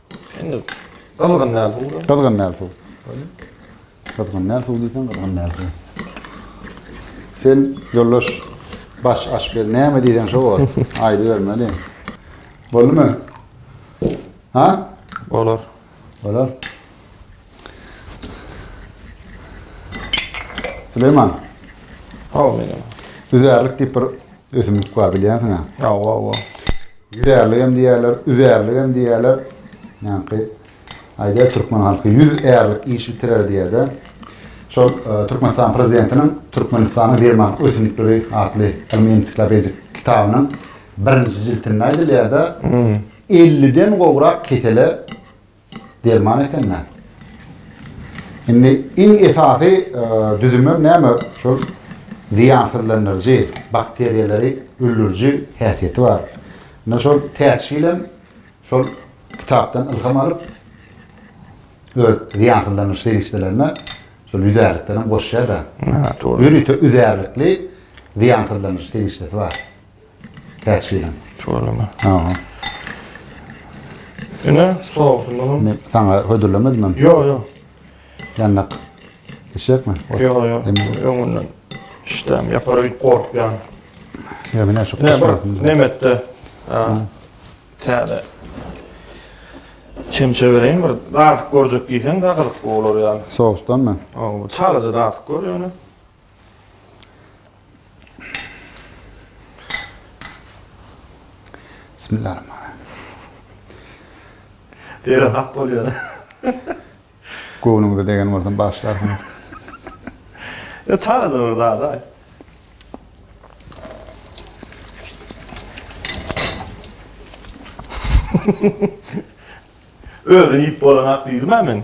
Indi gyzgyn däl suw. Gyzgyn däl suw. Gyzgyn däl suw diýsen gyzgyn däl suw. Sen ýoldaş baş aşpez näme diýsen şo bor. Aýdy bermeli. Boldumy? Ha? Bolar. Bolar. Süleyman. Hawa menem. Üzärlik diýip bir ösümlik bar bilýänsiň ha. Hawa hawa. Üzärlik hem diýerler, üzärlik hem diýerler. Ýaňky aýdýar türkmen halky 100 ärlik iş bitirer diýerde. Şol e, Türkmenistan prezidentiniň Türkmenistanyň derman ösümlikleri atly ylmy ensiklopedik kitabynyň birinji jiltinde aýdylýar-da, 50-den hmm. gowrak kesele Derman ekende. Indi iň esasy düzümem näme? Şol zyýansyzlandyryjy, bakteriýalary öldüriji häsiýeti bar. Indi şol täçgilem şol kitapdan ylham alyp öz zyýansyzlandyryş serişdelerine şol ýüzärlikden hem goşýar-da. Ýörite üzärlikli zyýansyzlandyryş serişdesi bar. Täçgelen. Tuwalama. Aha. Ine, sousumyzam. Ne, sana hödürlemedim hem. Ýok, ýok. Ýandak. Eşekmi? Ýok, ýok. Öňünden işdäm ýapar öýüp gorkýan. Ýa men şu kuşratym. Nemetde. Täze. Çemçe bereýin bir. Dartyk görjek diýseň, da gyzyk bolar ýaly. Sousdanmy? Aw, çalaja dartyk gör ýöne. Dere hak bolýar. Göwnüňize degen bolsam bagyşlarsyňyz. Ýa çagaja bir zada. Özüni iýip bolan ak diýdim-ä men.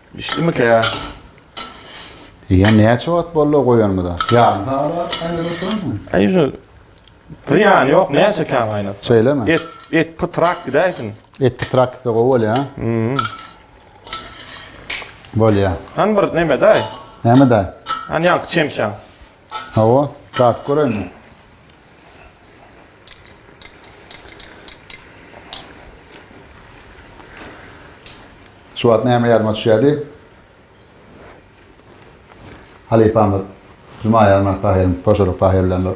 Bişdimikä? Eýýäm näçe wagt boldy goýanymyza? Ýarym sagat wagt gaýnadyp oturanmy? Aý şu zyýany ýok, näçe kän gaýnatsa. Şeýlemi? Et, et pytrak gidäýsin. Et pytrak gitse gowy bolýar. Hmm. Bolýar. Hany bir neme-daý? Näme-daý? Hany ýaňky çemçäň. Hawa, datyp göräýinmi? Şu wagt näme ýadyma düşýärdi? Halypamyz Juma Ýazmaz Tahyryň, Toşalyk Tahyr bilen bir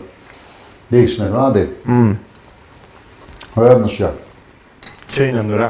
degişmesi bardy. Özüm düşýär. Çeýnemdir-ä.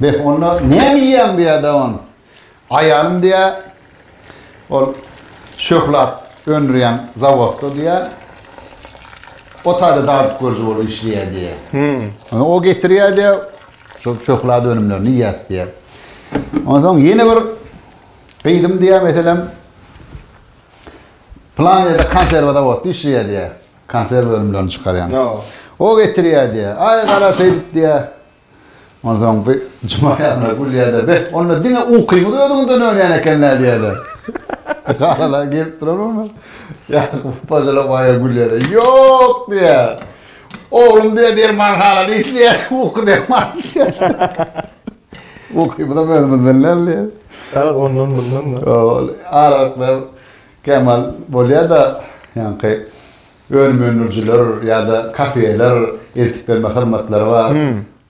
Beh, onda näme iýýäň diýýär daban. Aýalym diýýär, ol şöhlat öndürýän zawodda diýýär, o taýda dadyp görüji bolup işleýär diýýär. O getirýär diýýär, şol şöhlat önümlerini iýýäs diýýär. Onsoň ýene bir gyzym diýýär, meselem, plan ýerde konserwa zawodda işleýär diýýär. Konserw önümlerini çykarýan. O getirýär diýýär. Aý gara şeýdip diýýär. Onsoň bir juma ýazyna gülýär-de, Be, onda diňe ukyňyz özüňizden dönýän eken-dä diýýär-de. Garalar gelip duran bolmasa, Ýakup paşa-da baýa gülýär-de, Ýok diýýär. Oglum diýýär, dermanhanada işleýär, uky dermany içýär. Ukymyzam özümizden däl diýýär. Garaz ondan-mundan-da. Aralyk berip, Kämal bolýada ýaňky önüm öndürijiler ýada kafeler eltip berme hyzmatlary bar.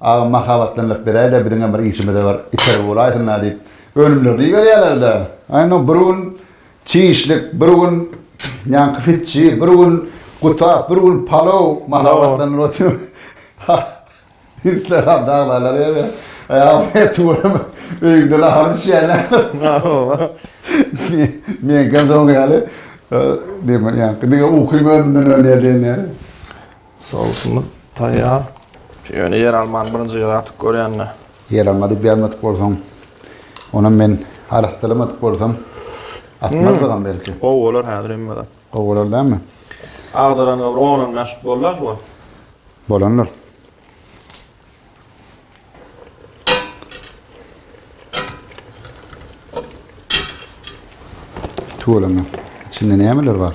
Agam mahabatlandyryp beräýdä biziňem bir işimize bir itergi bolaýsynda diýip önümlerini iberýärlerde. Aýno bir gün çişlik bir gün ýaňky fitçi bir gün gutap bir gün palow mahabatlandyryp otyr. Isleran daglalar ýa-da aýagyny tuweleme öýüňde nahar bişýärler. Meňkem soň ýaly diýme ýaňky diňe ukyň öňünden ölýär diýen ýaly. Sosumyz taýýar. Şu ýöne ýeralmany birinji gezek atyp görýän-le. Ýeralma diýip ýazmadyk bolsaň, onam men arassalamadyk bolsam atmazdygam belki. Gowy bolar häzir hemme zat. Gowy bolar dämi? Agdaranyňa bir on on bäş bollar şu wagt. Bolandyr. Tuwalama. İçinde nämeler bar?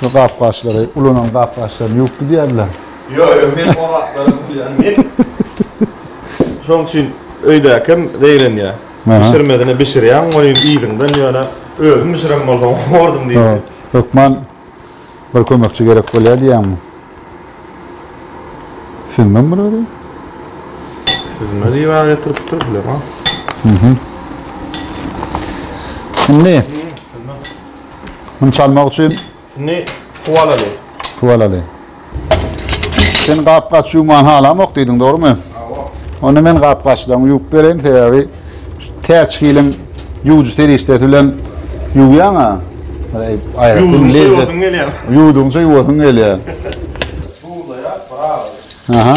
Şu gap-gaçlary, ulanan gap-gaçlaryny ýuwup gidýärdiler. Ýok, ýok, men o gaplaram ýuwýan. Men şoň üçin öýdäkim zeýrenýär. Bişirmedine bişirýän goýun yzyňdan ýöne özüm bişiren bolsam howardym diýdi. Hökman bir kömekçi gerek bolýar diýýäňmi? Süzmem bir özüm. Süzme diýip getiripdir bilemok. Indi Bunu çalmak üçin Şimdi su alaly. su alaly. Sen gap gaç ýuwman halamok diýdiň, dogrumy? Awa. Onda men gap gaçlaryňy ýuwup bereýin, sebäbi şu täçgiliň ýuwujy serişdesi bilen ýuwýaň-a. Eý, aýratyn Ýuwdugyňça lezzet. ýuwasyň gelýär. Ýuwdugyňça ýuwasyň gelýär. Duzlaýar, bir agzy. Aha.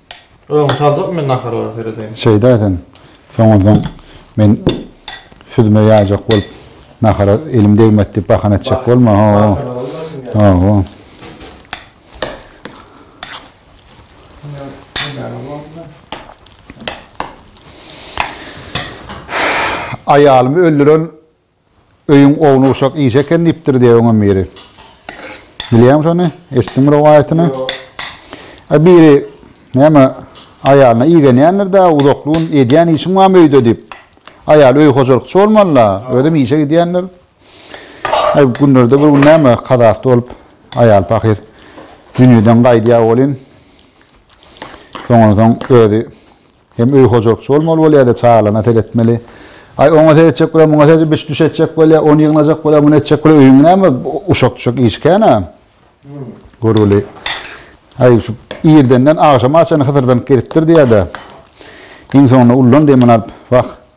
Öň saljak men naharlara seredeýin. Şeýda sen soňundan men süzme ýaýjak bolup nahara elim degmedi diýip bahana etjek bolma. Hawa. Aýalymy öldüren Öýüň ownuk-uşak işi eken diýipdir diýýär öňem biri. Bilýäňmi şony? Eşitdiňmi rowaýatyny? Ýok. A biri, näme, aýalyna igenýändir-dä, uzakly gün edýän işiň barmy öýde diýip. Aýaly öý hojalykçy bolmaly-la, özem işe gidýändir. Aý, günlerde bir gün näme, kazasy bolup, aýal pahyr dünýeden gaýdýar welin, soňunsoň özi Hem öý hojalykçy bolmaly bolýar-da, çagalaryna seretmeli. Aý, oňa seretjek bolýar, muňa seretjek, biş-düş etjek bolýar, ony ýygnajak bolýar, muny etjek bolýar, öýüňi näme uşak-tuşak iş kän-ä. Görgüli, Aý, şu irdenden agşama çenli hysyrdanyp gezipdir diýýär-de, iň soňunda ullan demini alyp, Wah,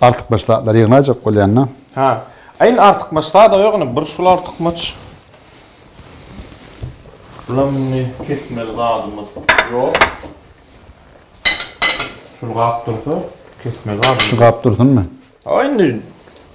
Artykmaç zatlary ýygnajak bolýanda. Hä. A indi artykmaç zada ýok indi bir şul artykmaç. Bulam indi kesmeli zadymyz ýok. Şul gap dursa kesmeli zadymyz. Şu gap dursunmy? A indi.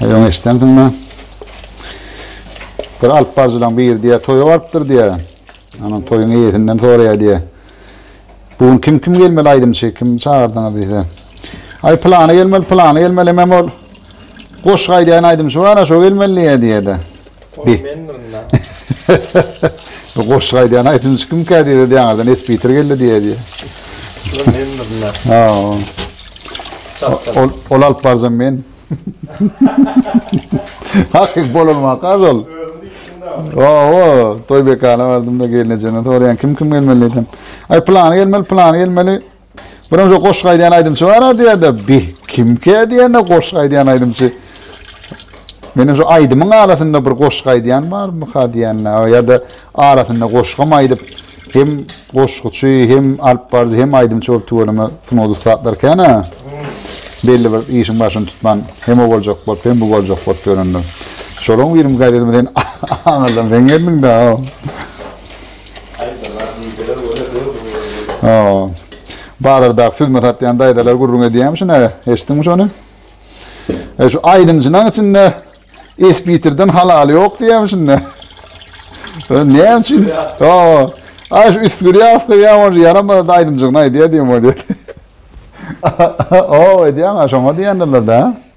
Öň eşdendiňmi? Bir alyp barjylaň biri diýýär, toýa barypdyr diýýär. Onuň toýuň eýesinden soraýar diýýär. Bu gün kim kim gelmeli aýdymçy, kim çagyrdyňyz diýse. Aý plany gelmeli, plany gelmeli, hemem ol goşgy aýdýan aýdymçy bar, şo gelmeli diýýär diýýär-de. Ol mendirin da. Goşgy aýdýan aýdymçy kimkä diýdi de ýaňardan Espiter geldi diýýä diýýä. Ol mendirin da. Ha. Ol ol alyp barjam men. Hakyk bolanma kaz ol. Owo, toý bekana bardym da gelnejeme soraýan kim kim gelmeli diýdim. Aý plany gelmeli, plany gelmeli. Birinji goşgy aýdýan aýdymçy bar diýende, bi kimkä diýende goşgy aýdýan aýdymçy. Meniň şu aýdymyň arasynda bir goşgy aýdýan barmy ha diýende, ýa-da arasynda goşgym aýdyp, hem goşguçy, hem alyp baryjy, hem aýdymçy bolup tüweleme sungat ussatlar kän-ä. Belli bir işiň başyny tutman, hem o boljak bolup, hem bu boljak bolup ýörende. Şolaryň birimi gaýdadym sen aňyrdan sen geldiň-dä. Daýzalar, niýdeler göne döl bu ýerde. Hawa. Bazardaky süzme satýan daýzalar gürrüň edýärmiş ine. Eşitdiňmi şony? E şu aýdymçynyň içinde Esbitirden halaly ýok diýýärmiş indi. Näme üçin? Hawa. Ay şu üstgür ýaslyk ýa bolsa ýaramaz aýdymçygyny aýdýar diýen bolýar. Hawa edýän şoňa diýendirler-de.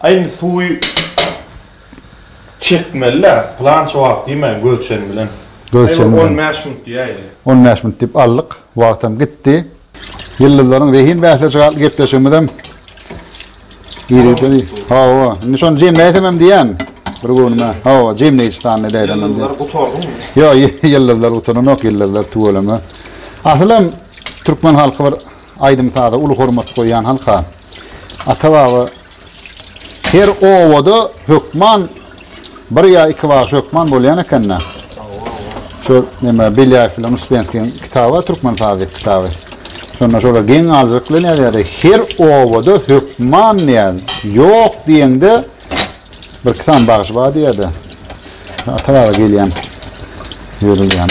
Aý indi suwy çekmeli-dä, pylança wagt diýmän, gölçem bilen. Aý bir on bäş minut diýäýeli. On bäş minut diýip aldyk. Wagtam gitdi. Ýyldyzlaryň zehin bäsleşigi atly gepleşigimizem irgitdi. Hawa, indi şony jemläýsemem diýýän bir göwnüme. Hawa, jemleýji sany edäýsemem diýýän. Ýyldyzlar gutardymy? Ýok, ýyldyzlar gutaranok, ýyldyzlar tüweleme. Asylam türkmen halky bir Aýdym-saza uly hormat goýýan halka ata-baba her obada hökman bir ýa iki bagşy hökman bolýan eken-de. Şu neme Belýaýew bilen Uspenskiň kitaby bar, türkmen sazy kitaby. Şonda şolar geň galyjylyk bilen ýazýardy. Her obada hökman diýýär. Ýok diýeňde bir iki sany bagşy bar diýýär-de. Ata-baba gelýän ýörülýän.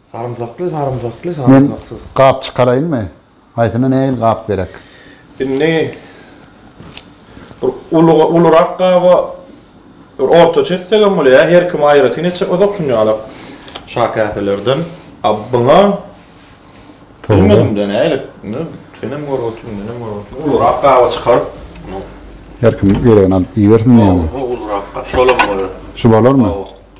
Sarymsakly sarymsakly sarymsaksyz. Men gap çykaraýynmy? Haýsyna nähili gap gerek? Indi bir uly ulurak gaba bir ortaça etsegem bolar ýa her kim aýratyn etse uzak şuny alyp şa käselerden a buňa bilmedimde nähili senem görüp otur menem görüp otur ulurak gaba çykaryp her kim geregini alyp iýersin diýýäňmi? Ýok ulurak gap şolam bolar. Şu bolarmy? Hawa.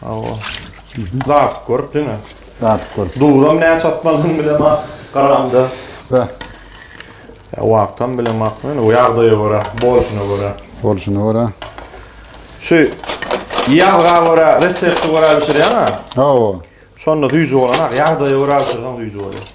Hawa. Dadyp görüp diňe. Dadyp görüp. Duzam näçe atmalydygyny bilemok. Garamda. Hä. Ýa wagtam bilemok. Ýöne o ýagdaýa görä, bolşuna görä. Bolşuna görä. Şu ýazga görä, resepte görä bişirýäň-ä. Hawa. Şonda süýji bolan ak, ýagdaýa görä bişirseň süýji bolýar.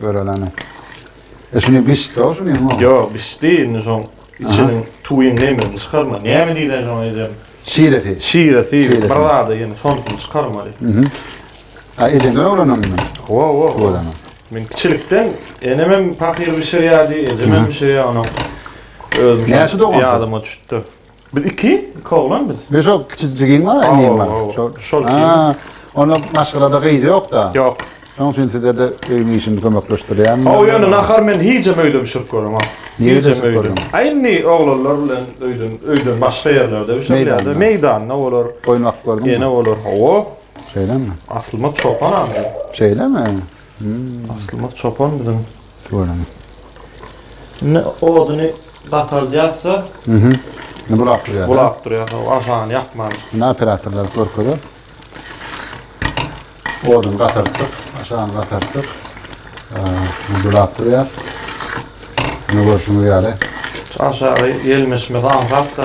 Göreleni. E şunu bişdi o şunu mu? Yok bişdi indi şoň içiniň tuýun nemini çykarma. Näme diýlen şoň ejem? Şiresi. Şiresi. Bir zada ýene şondan çykarmaly. Mhm. A ejeňden öwrenen mi? Wo wo wo. Men kiçilikden enem hem pahyr bişirýärdi, ejem hem bişirýär onuň. Özüm Näçe dogandym? Ýadyma düşüpdi. Biz iki, iki oglan biz. Biz o kiçijigin var ya neyim var. Şol ki. Ona maşgalada kıydı yok da. Yok. Şoň üçin size de öýüň işini kömekleşdirýän. O ýöne nahar men hijem öýde bişirip görüm. Hijem öýde. A indi oglanlar bilen öýden öýden başga ýerlerde bişirýärler. Meýdanda olar. Goýmak gördüm. Ýene olar. Hawa. Şeýlemi? Aslymyz çopan adam. Şeýlemi? Hmm. Aslymyz çopan biziň. Görüň. Indi oduny batardýarsa, Mhm. Ne bulap durýar. Bulap durýar. Aşany ýakman. Ne operatorlar görkezip. Oduny gatartdyk, aşany gatartdyk. Ne bulap durýar. Ne görüşüňiz ýaly. Aşagy ýelmeşmesi aňsat da.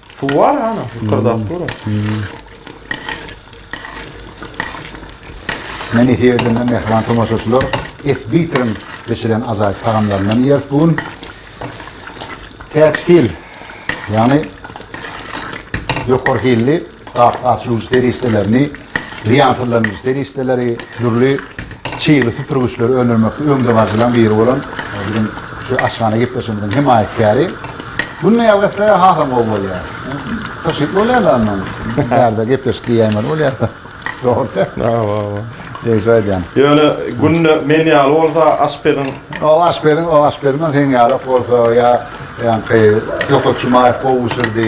Suw bar hana, ýykyrdap dur. Men efirden mehriban tomaşaçylar Esbitriň bişiren ajaýyp tagamlaryndan ýeris bu gün. Täçhil, ýagny ýokary hilli gap-gaçyryjy serişdelerini, zyýansyzlandyryjy serişdeleri, dürli Çygly süpürgiçleri öndürmekde öňdebaryjylaryň biri bolan biziň şu aşhana gepleşigimiziň hemaýatkäri Günde ýazgy etse hasam gowy bolýar. Pyşyt bolýar-da ondan. Bärde gepleşik diýýäýmeli bolýar-da. Dogrudy. Hawa, hawa. Degişip aýdýan. Ýöne Günde men ýaly bolsa aşpeziň. O aşpeziň, o aşpeziň hem seň ýalak bolsa ýa ýaňky Ýokut Jumaýew gowy bişirdi.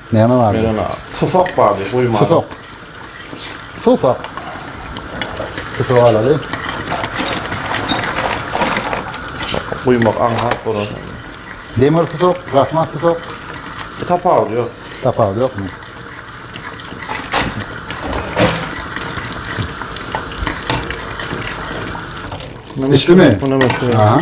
Näme bardy? Men ony susak bardy guýmada. Susak. Susak. Susak alaly. Guýmak aňsat bolar. Demir susak, rahmat susak. Tapawudy ýok. Tapawudy ýokmy? Düşdümi? Buna meşhur. Aha.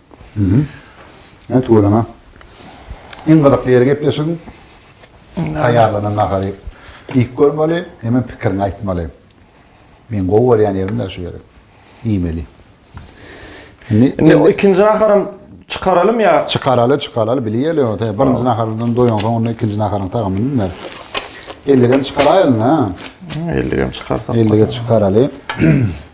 Hä tüweleme. Iň gyzykly ýeri gepleşigiň taýýarlanan nahary iýip görmeli, hemem pikiriňi aýtmaly. Meň gowy görýän ýerim däl şu ýeri. Iýmeli. Indi ikinji naharam çykaralymy ýa? Çykaraly, çykaraly, bilýeli. Birinji nahardan doýansoň onda ikinji naharyň tagamyny bilmeris. Elligem çykaraýalyň-a. Elligem çykarsak. Ellige çykaraly.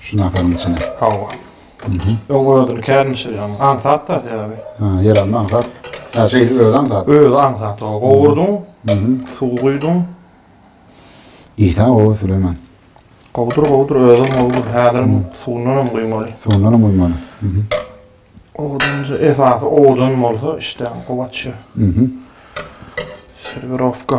Şu naharyň içine. Hawa. Mhm. Öň özüni kän bişirýän. Aňsat da sebäbi. Ha, ýer alma aňsat. Ha, şeýle özi aňsat. Özi aňsat. O gowurdyň. Mhm. Suw guýduň. Isa o Süleýman. Gowudyr, gowudyr, özem gowudyr. Häzir suwundan hem guýmaly. Suwundan hem guýmaly. Mhm. Odunjy esasy odun bolsa işdäň kuwwat şu. Mhm. Serwirowka.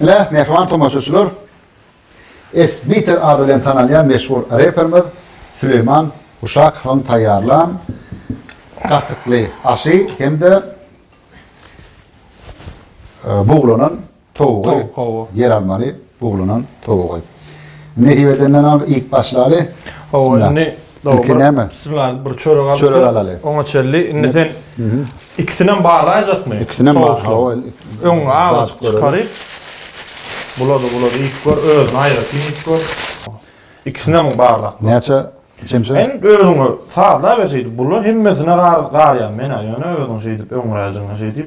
Ine, mähriban tomaşaçylar, S-Beater ady bilen tanalýan meşhur reperimiz Süleýman Uşakowyň taýýarlan Gatykly aşy hem-de Buglanan towugy, ýeralmaly buglanan towugy. Nesip edenden ony iýip başlaly. Hawa, indi Ilki näme? Bismillah, bir çörek alyp. Çörek alaly. Oňa çelli. Indi sen ikisini hem barlaýjakmy? Ikisini hem barlaýaly. Öň agyz çykaryp. Bulady, bulady. Iýip gör, özüni aýratyn iýip gör. Ikisini hem barlap gör. Näçe çemçe? Sen özüňe sazla ber şeýdip. Bula hemmesine garýan men-ä, ýöne özüň şeýdip öňräjigine şeýdip.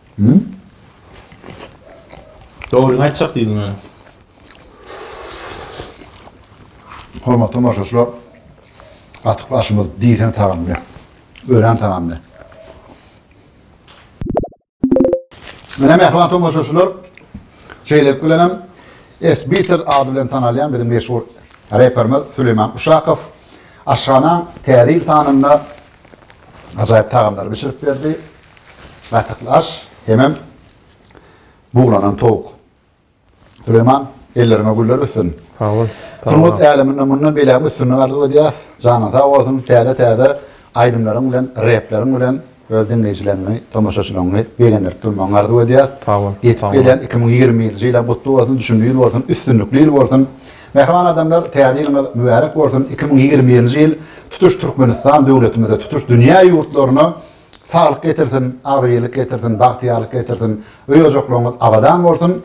Dogryňy aýtjak diýdim ýöne. Hormatly tomaşaçylar, gatyk aşymyz diýseň tagamly, örän tagamly. Mine mähriban tomaşaçylar, şeýlelik bilen hem Esbitter ady bilen tanalýan biziň meşhur reperimiz Süleýman Uşakow aşhanaň Täze ýyl sanynda ajaýyp tagamlary bişirip berdi. Gaýtakly aş hemem buglanan towuk. Süleýman, elleriňe güller össün. Sag bol. Sungat äleminde mundan beýläk üstünlik arzuw edýäs. Janyň sag bolsun, täze-täze aýdymlaryň bilen, repleriň bilen öz diňleýjileňňi, tomaşaçylaňňy begendirip durmagyňy arzuw edýäs. Sag bol. Ýetip gelýän iki müň ýigrimi ýilinji ýylaň gutly bolsun, düşümli ýyl bolsun, üstünlikli ýyl bolsun. Mähriban adamlar, täze ýylyňyz mübärek bolsun. Iki müň ýigrimi ýilinji ýyl tutuş Türkmenistan döwletimize, tutuş dünýä ýurtlaryna saglyk getirsin, agzybirlik getirsin, bagtyýarlyk getirsin, öý-ojaklaryňyz abadan bolsun!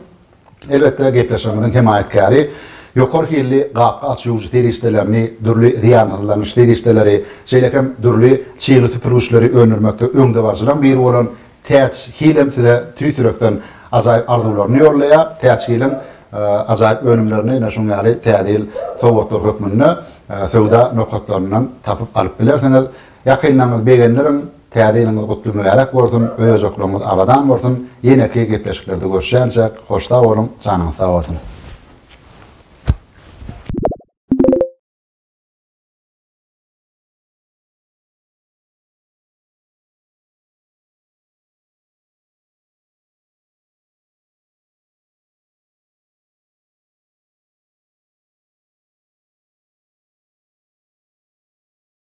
Elbetde, gepleşigimiziň hemaýatkäri ýokary hilli gapga aç-ýuwujy serişdelerini, dürli zyýansyzlanyş serişdeleri, şeýle hem dürli çygly süpürgiçleri öndürmekde öňdebaryjylaryň biri bolan Täç hil hem size tüýs ýürekden ajaýyp arzuwlaryny ýollaýar. Täç hiliň ajaýyp önümlerini ine şuň ýaly Täze ýyl sowgatlary hökmünde söwda nokatlaryndan tapyp alyp bilersiňiz. Ýakynlaryňyzy begendiriň, Täze ýylyňyz gutly mübärek bolsun, öýjüklerňiz abadan bolsun, ýeneki gepleşiklerde görüşýänçäk hoş sag boluň, janyňyz sag bolsun.